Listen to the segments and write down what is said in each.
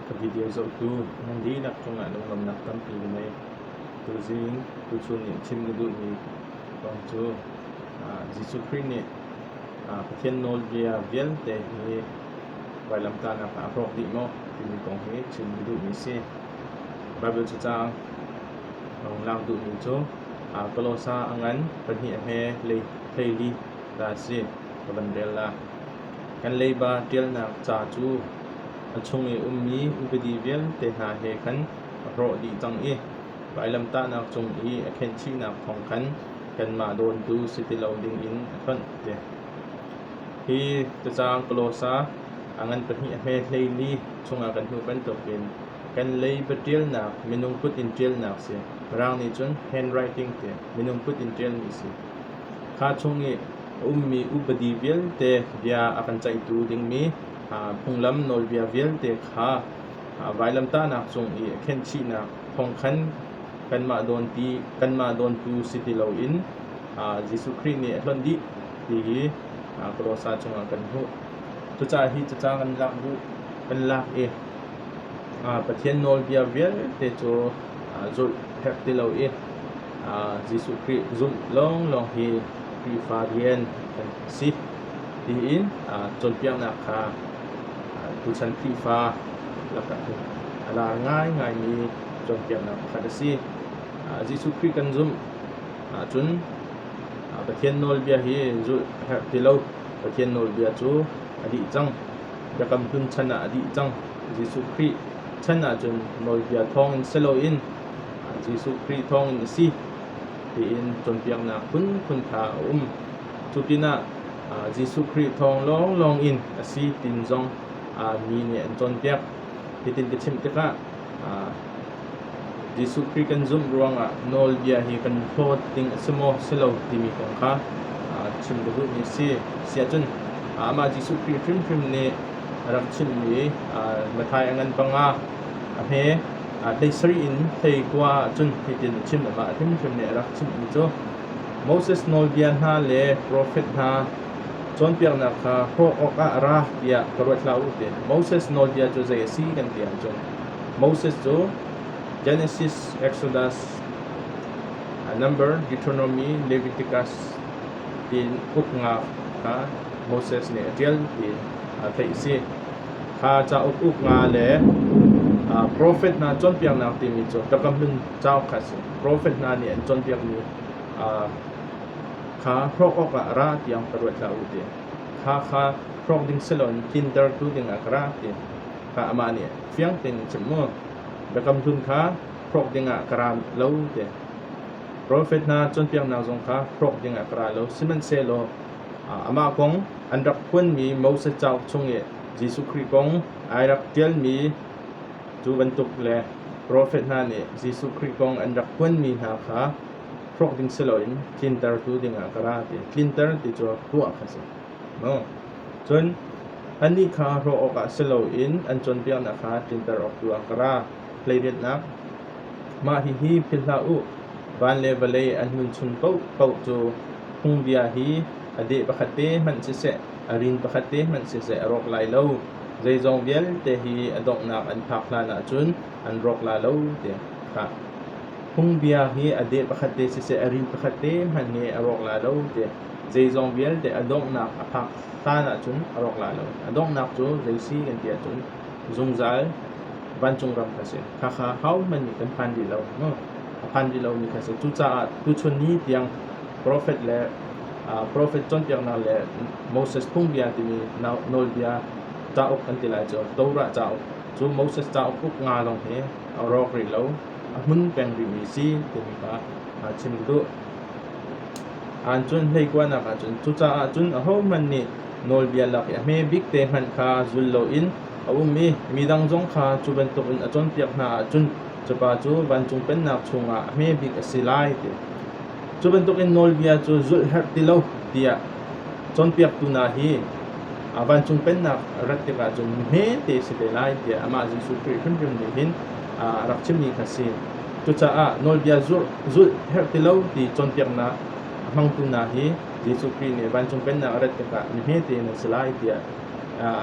Ka video zohtu nan dihlak cungah lunglawmhnak tampi ka ngei. Tuzing tuchun nih chim na duhmi kong cu Jesuh Khrih nih Pathian nawlbia vialte hi vailamtahnak ah a hrawk dih maw timi kong hi chim ka duhmi a si. Baibal cacang rung lak duhmi cu Kolosa a ngan pahnih a hme hleili dah a si ka van rel la. Kan leiba ṭialnak ca cu a chung i ummi upadi vialte hna he khan a hrawh dih cang i vailamtahnak cung i a khenchihnak thawng khan kanmah dawntu si ti lo dingin a hlawnh, ti a ti. Hi cacaang pawlawsa a ngan pahnih a hme hlei li chungah kan hmuh bantukin kan lei va ṭialnak minung kut in ṭialnak si. Mirang nih cun handwriting ti minung kut in ṭialmi a si. Kha chung i a ummi upadi vialte bia a kan ceihtu dingmi phunglam nawlbia vialte kha vailamtahnak cung i a khenhchihnak thawng khan kanmah dawntu si ti loin Jesuh Khrih nih a hlonh dih ti hi Kolossa chungah kan hmuh. Cucaah hi caca kan lak bu kan lak i Pathian nawlbia vialte cu zulh herh ti lo i Jesuh Khrih zumh lawnglawng hi Khrihfa rian kan si tiin cawnpiaknak kha tuchan Khrihfa lakah hin a lar ngaingaimi cawnpiaknak pakhat a si. Jesuh Khrih kan zumh Ahcun Pathian nawlbia hi zulh a herh ti lo. Pathian nawlbia cu a dih cang. Biakam Hlun chan ah a dih cang. Jesuh Khrih chan ahcun nawlbia thawngin si loin Jesuh Khrih thawngin a si tiin cawnpiaknak phunphun kha a um. Cu pinah Jesuh Khrih thawng lawnglawng in a si tin zong mi nih an cawnpiak. Hitin ka chimh tikah Jesuh Khrih kan zumh ruangah nawlbia hi kan hlawt ding a si maw, si lo timi kong kha chim ka duhmi a si. Siahcun amah Jesuh Khrih hrimhrim nih a rak chimmi Matthai a ngan panga a hme hlei sarih in hlei kua ahcun hitin a chim, amah hrimhrim nih a rak chimhmi cu, Moses nawlbia hna le profet hna Cawnpiaknak kha hrawh awkah ra tiah ka ruat hlah u ti Moses nawlbia cu zei a si kan ti ahcun Moses cu Genesis, Exodus, Number, Deuteronomy, Leviticus tiin uknak kha Moses nih a ṭial ti a theih a si. Kha cauk uknak le profet hna cawnpiaknak timi cu thlakam in cauk kha a si. Profet hna nih an cawnpiakmi Kha hrawk awkah ra tiang ka ruat hlah u ti. Kha kha hrawk ding si loin tlintertu dingah ka ra ti. Kha amah nih fiang tein a chim mu. Biakam Hlun kha hrawk dingah ka ra lo ti. Profet hna cawnpiaknak zong kha hrawk dingah ka ra lo. Sihmanhsehlaw amah kong an rak phuanmi Moses cauk chung i Jesuh Khrih kong ai rak ṭialmi cu bantuk le profet hna nih Jesuh Khrih kong an rak phuanmi hna kha hrawk ding si loin tlinter tu dingah ka ra ti. Tlinter ti cu ruah kha si. Cun annih kha hrawh awkah si loin an cawnpiaknak kha tlinter awk tu ah ka ra. Hleidennak Mah hihi philh hlah u, van le vawlei an nun chung paohpaoh cu phungbia hi a deh pakhat te hmanh siseh, a rin pakhat te hmanh siseh a rawk lai lo. Zeizong vialte hi a donghnak an phak hlanah cun an rawk la lo tiah a fak. Phungbia hi a deh pakhat te siseh, a rin pakhat te hmanh nih a rawk la lo tiah zeizong vialte a donghnak a phak hlan ahcun a rawk la lo. A donghnak cu zeisi kan ti ahcun zungzal vancung ram kha si. Khakha hohmanh nih kan phan rih lo. No? A phan rih lomi kha si. Cucaah tuchun ni tiang profet le uh, profet cawnpiaknak le Moses phungbia timi nawlbia cauk an ti lai cu Torah cauk Cu Moses cauk uk nga lawng hi a rawk rih lo, a hmun peng rihmi si timi kha aa chim duh. Aan cun hleikuanak ahcun cucaah cun ahohmanh nih nawlbia lak i a hme bik te hmanh kha zul loin a um i midang zong kha cu bantukin a cawnpiak hna ahcun cupa cu vancung pennak chungah a hme bik a si lai ti. Cu bantukin nawlbia cu zulh herh ti lo tiah cawnpiaktu hna hi vancung pennak a rat tikah cun hmete si te lai tiah amah Jesuh Khrih hrimhrim nih hin a rak chimmi kha a si. Cucaah nawlbia zulh, zulh herh ti lo ti cawnpiaknak a hmangtu hna hi Jesuh Khrih nih vancung pennak a rat tikah mi hmete in an si lai tiah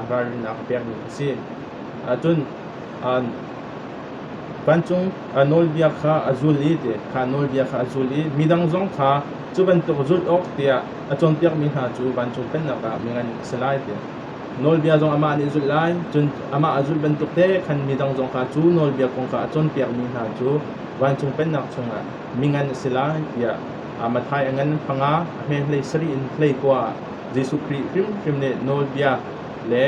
ralrinnak a pekmi a si. Ahcun Vancung a nawlbia kha a zul i kha nawlbia kha a zul i midang zong kha cu bantuk zulh awk tiah a cawnpiakmi hna cu vancung pennak ah mi ngan a si lai tiah nawlbia zong amah nih a zulh lai cun amah a zulh bantuk te khan midang zong kha cu nawlbia kong kha a cawnpiakmi hna cu vancung pennak chungah mi ngan a si lai tiah a Matthai a ngan panga a hme hlei sarih in hlei kua ah Jesuh Khrih hrimhrim nih nawlbia le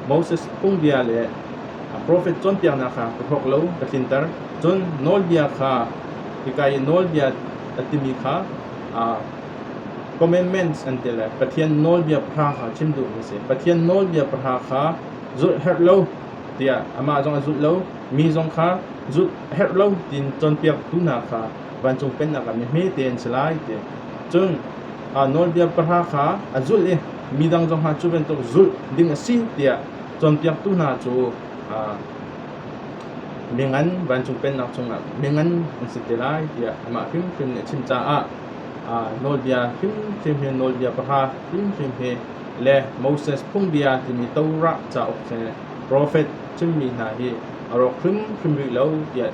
Moses phungbia le a profet cawnpiaknak kha ka hrawk lo ka tlinter. Cun nawlbia kha hika i nawlbia a timi kha aa commandments an ti le Pathian nawlbia pahra kha chim duhmi a si. Pathian nawlbia pahra kha zulh herh lo tiah amah zong a zulh lo, mi zong kha zulh a herh lo tiin cawnpiaktu hna kha vancung pennak ah mi hmete an si lai ti. Cun aa nawlbia pahra kha a zulh i midang zongah cu bantuk zulh ding a si tiah cawnpiaktu hna cu mingan vancung pennak chungah mingan an si te lai tiah amah hrimhrim nih a chim caah nawlbia hrimhrim hi nawlbia pahra hrimhrim hi le Moses phungbia timi Torah cauk he profet chimmi hna hi a rawk hrimhrim rih lo tiah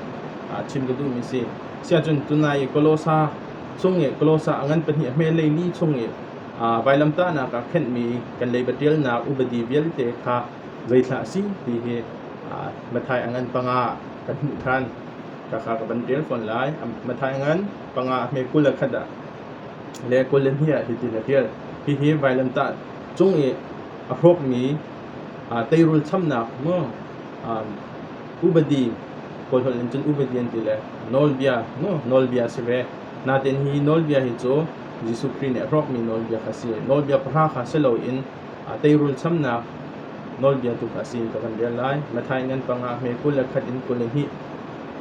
chim ka duhmi si siahcun tunai i Kolosa chung i Kolosa a ngan pahnih a hme leili chung i vailamtahnak ah khenhmi kan leiba ṭialnak upadi vialte kha zeithlah a si ti hi Matthai a ngan panga kan hmuh ṭhan. Khakha ka van ṭial fawn lai. Matthai ngan panga hme kul le khat ah le kul le hnih ah hitin a ṭial. Hihi vailamtah cung i a hrawkmi teirul chamnak mu upadi kawl holh in cun upadi an ti le nawlbia mu nawlbia a si ve. Natein hi nawlbia hi cu Jesuh Khrih nih a hrawkmi nawlbia kha a si. Nawlbia pahra kha si loin aa teirul chamnak nawlbia tu kha a si ka van rel lai. Mathai ngan pangah hme kul le khat in kul i hnih.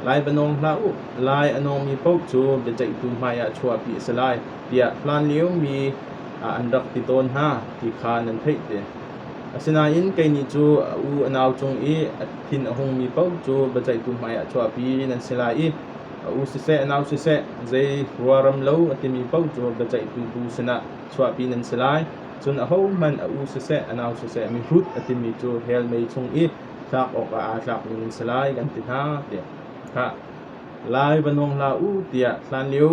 Lai va nawng hlah u, lai a nawngmi paoh cu biaceihtu hmaiah chuahpi a si lai, tiah hlanliomi ah an rak ti tawn hna ti kha nan theih te. Asinain kei nih cu a u a nau cung i a thin a hungmi paoh cu biaceihtu hmaiah chuahpi nan si lai i A u siseh, a nau siseh, zei ruaram lo a timi paoh cu biaceihtu bu sinah chuahpi nan si lai. Cun ahohmanh a u siseh, a nau siseh, mihrut a timi cu hell mei chung i tlak awkah aa tlakmi nan si lai, kan ti hna, tiah khah lai va nuang hlah u, tiah hlanlio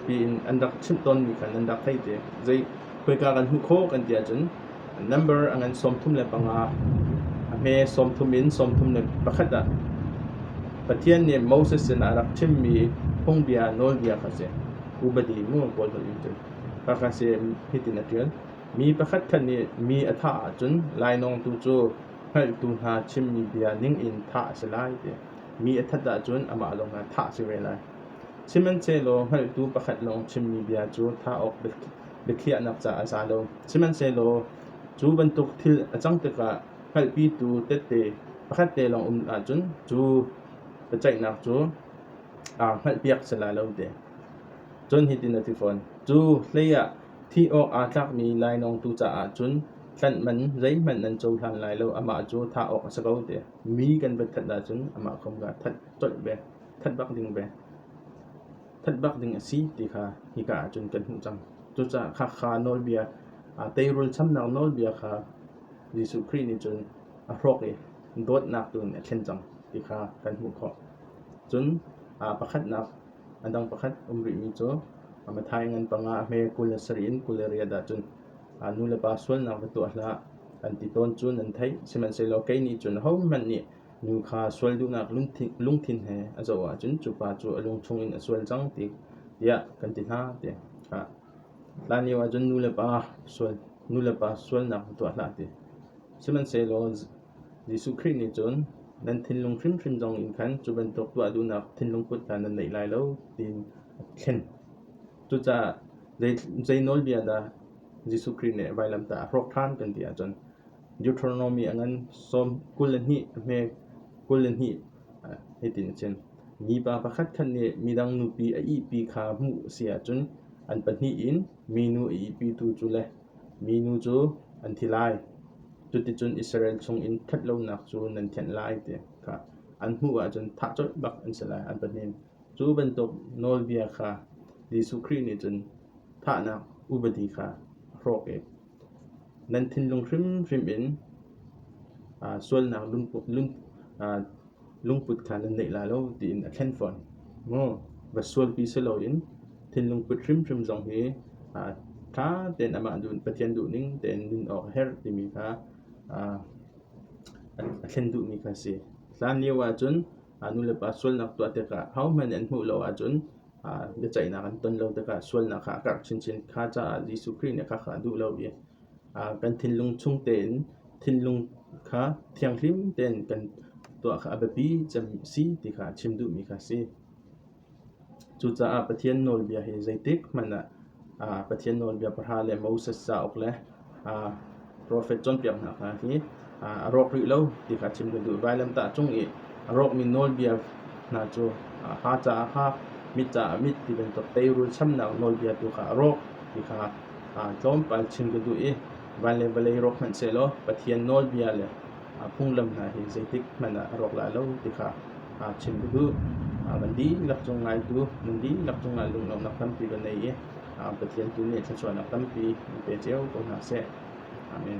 piin an rak chimh tawnmi khan an rak theih ti. Zei khoika kan hmuh khawh kan ti ahcun Number a ngan sawmthum le panga, a hme sawmthum in sawmthum le pakhat ah. Pathian nih Moses sinah a rak chimmi phungbia nawlbia kha si. Rubadi mu pawl holh in cun kha kha si hitin a ṭial. Mi pakhatkhat nih mi a thah ahcun lainawng tu cu hngalhtu hna chimmi bia ningin thah a si lai ti. Mi a that ahcun amah lawng ah thah a si ve lai. Sihmanhsehlaw hngalhtu pakhat lawng chimmi bia cu thah awk biathli biakhiahnak caah a za lo. Sihmanhsehlaw cu bantuk thil a cang tikah hngalhpitu tette pakhat te lawng um ahcun cu biaceihnak cu aa hngalhpiak sala lo te. Cun hitin a ti fawn, cu hleiah thih awk aa tlakmi lainawngtu caah cun tlanh man zeihmanh nan cohlan lai lo, amah cu thah awk a si ko te. Mi kan va that ahcun amah kong kha that colh ve, that bak ding ve. phanh bak ding a si ti kha hika ahcun kan hmuh cang. Cucaah khakha nawlbia, teirul chamnak nawlbia kha Jesuh Khrih nih cun a hrawk i dawtnak tu in a thlen cang ti kha kan hmuh khawh. Cun pakhatnak, a dang pakhat um rihmi cu Matthai ngan panga a hme kul le sarih in kul le riat ahcun nu le pa sualnak va tuah hlah an ti tawn cu nan theih. Sihmanhsehlaw kei nih cun hohmanh nih Nu kha sual duhnak lungthin he a zoh ahcun cu pa cu a lung chungin a sual cang tiah kan ti hna ti hlah. Hlanlio ahcun nulepa sual nulepa sualnak tuah hlah ti. Sihmanhsehlaw Jesuh Khrih nih cun nan thinlung hrimhrim zong in khan cu bantuk tuah duhnak thinlung put hna nan neih lai lo tiin a thlen. Cucaah zei nawlbia dah Jesuh Khrih nih vailamtah a hrawk ṭhan kan ti ahcun Deuteronomy a ngan sawm kul le hnih a hme kul le hnih hitin a chim, Mipa pakhatkhat nih midang nupi a ihpi kha hmuh a si ahcun an pahnih in minu a ihpitu cu le minu cu an thi lai. Cuticun Israel chungin ṭhat lonak cu nan thianh lai ti kha an hmuh ahcun thah colh bak an si lai, an pahnih in. Cu bantuk nawlbia kha Jesuh Khrih nih cun thahnak upadi kha a hrawk i Nan thinlung hrimhrim in sualnak lungput kha nan neih lai lo tiin a thlen fawn. Maw va sualpi si loin thinlung put hrimhrim zong hi ṭha tein amah Pathian duhning tein nun awk a herh timi kha a thlen duhmi kha a si. Hlanlio ahcun a nulepa sualnak tuah tikah hohmanh an hmuh lo ahcun biaceihnak an ton lo tikah sualnak kha a karh chinchin. Kha caah Jesuh Khrih nih a kha a duh lo i kan thinlung chung tein thinlung kha thianghlim tein kan tuah kha a biapi cem si ti kha a chim duhmi kha a si. Cucaah Pathian nawlbia hi zeitik hmanh ah Pathian nawlbia pahra le Moses cauk le profet cawnpiak hna kha hi a rawk rih lo ti kha chim kan duh. Vailamtah cung i a rawkmi nawlbia hna cu ha caah ha, mit caah mit ti bantuk teirul chamnak nawlbia tu kha a rawk ti kha tlawmpal chim kan duh i van le vawlei rawk hmanhsehlaw Pathian nawlbia le phunglam hna hi zeitik hmanh ah a rawk lai lo ti kha chim ka duh. Kan dihlak cung ngaitu, nan dihlak cung ah lunglawmhnak tampi kan nei i Pathian tu nih thluachuahnak tampi in pe cio ko hna seh. Amen.